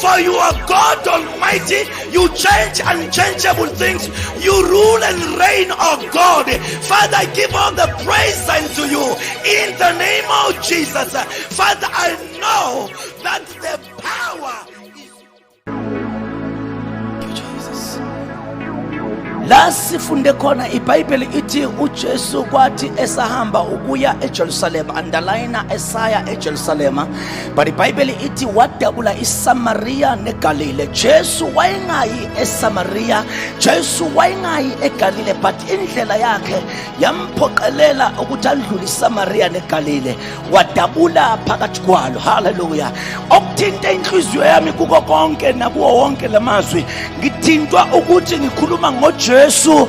For you are God Almighty. You change unchangeable things. You rule and reign, oh God. Father, give all the praise unto you in the name of Jesus. Father, I know that the power is. Thank you, Jesus. la sifunde khona ibhayibheli ithi ujesu kwathi esahamba ukuya ejerusalema andalayina esaya ejerusalema but ibhayibheli ithi wadabula isamariya negalile jesu wayengayi esamariya jesu wayengayi egalile but indlela yakhe yamphoqelela ukuthi andlule isamariya negalile wadabula phakathi kwalo haleluya okuthinta inhliziyo yami kuko konke nakuwo wonke la mazwi ngithintwa ukuthi ngikhuluma ngojesu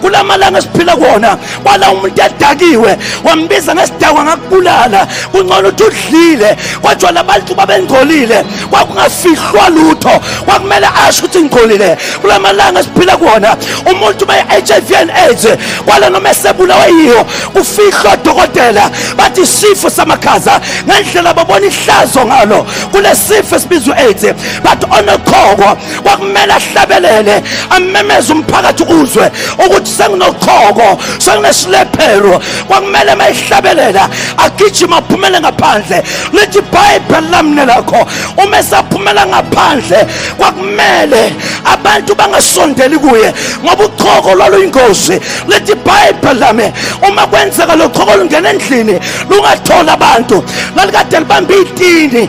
kula malanga esiphila kuwona kwala umuntu edakiwe wambiza ngesidakwa ngakubulala kungcono ukuthi udlile kodwa labantu babengcolile kwakungafihlwa lutho kwakumele asho ukuthi ngigcolile kula malanga esiphila kuwona umuntu be-hiv and aids kwala noma esebulawe yiyo kufihlwa odokotela bathi isifo samakhaza ngendlela babona ihlazo ngalo kulesifo esibizwa u-aids but onokhoko kwakumele ahlabelele amemeze umphakathi uzwe ukuthi senginochoko senginesilephelo kwakumele uma ehlabelela agijima aphumele ngaphandle lithi ibhayibheli lamne lakho uma esaphumela ngaphandle kwakumele abantu bangasondeli kuye ngoba uchoko lwaluyingozi lithi ibhayibheli lami uma kwenzeka lochoko lungena endlini lungathola abantu lalikade libambe itini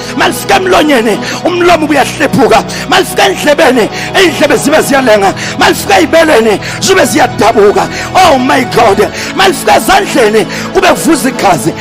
malifika emlonyeni umlomo ubuyahlephuka malifika endlebeni indlebe zibe ziyalenga malifika ezibeleni zibe ziyadabuka oh my god malifika ezandleni kube kuvuza igazi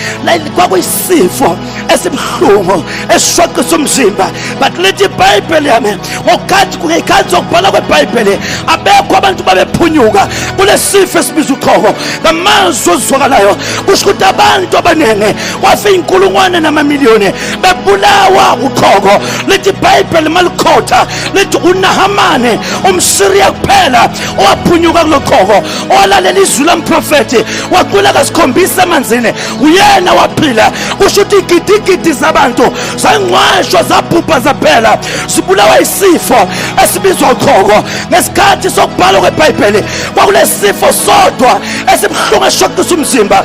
kwakuyisifo esibuhlungu esishoqisa umzimba but lithi ibhayibheli yami ngokukathi ngekhathi zokubhala kwebhayibheli abekho abantu babephunyuka kulesifo esibiza uqhoko ngamazwi ozizwakalayo kusho ukuthi abantu abaningi kwafe iy'nkulungwane namamiliyoni bebulawa uqhoko lithi ibhayibheli malikhotha lithi unahamane umsiriya kuphela owaphunyuka kulo qhoko owalalela izwi lomprofethi wacula kasikhombisa emanzini uyena waphila kusho ukuthi igidigidi zabantu zangcwashwa zabhubha zaphela zibulawa isifo esibizwa uqhoko ngesikhathi sokubhalwa kwebhayibheli kwakulesifo sodwa esibuhlungu eshoqisa umzimba